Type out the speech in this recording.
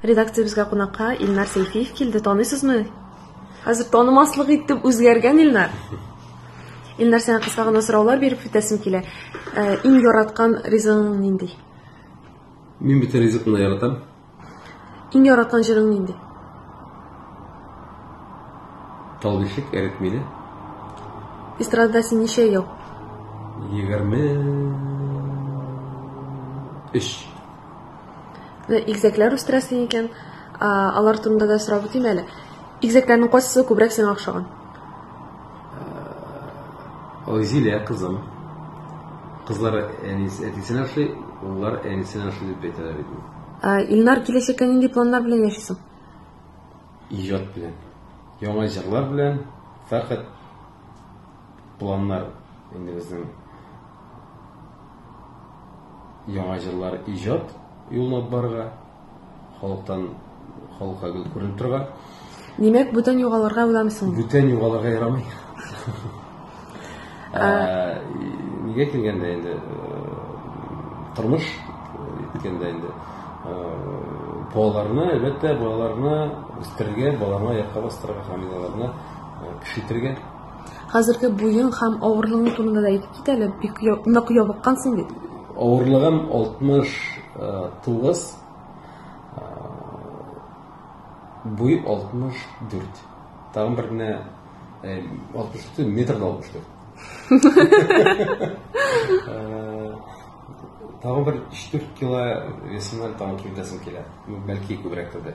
Редакциябезгә кунакка Илнар Сәйфиев килде. Таныйсызмы? Хәзер танымаслык итеп үзгәргән Илнар. Илнар сиңа кыска гына сораулар биреп үтәсем килә. Э, иң яраткан ризыгың нинди? Мин бит ризыкны яратам. Иң яраткан җырың нинди? Тал бишек эреп мине. Эстрадада син ничә ел? 23. Игезәкләр үстерәсең икән, алар турында да сорап үтим әле. Игезәкләрнең кайсысы күбрәк сиңа охшаган? Зилә кызым. Кызлары әнисенә охшый, уллар әнисенә охшый дип әйтәләр иде. Илнар, киләчәккә нинди планнар белән яшисең? Иҗат белән. Яңа җырлар белән, фәкать планнар инде безнең яңа җырлар иҗат юлына барырга халыктан халыкка гел күренеп торган димәк бүтән югалырга уйламыйсың бүтән югалырга ярамый ә, нигә килгәндә инде тормыш килгәндә инде балаларны әлбәттә балаларны үстерергә балаларны аякка бастырырга һәм аларны кеше итәргә Хәзерге буең һәм авырлыгың турында да әйтеп кит әле, бик нык ябыккансың бит. Авырлыгым 69, буй 64. Тагын бер генә 64 э, метр 64. Э, тагын бер 4 кило весымнан тагын килтәсем килә. Бәлки күбрәк тә.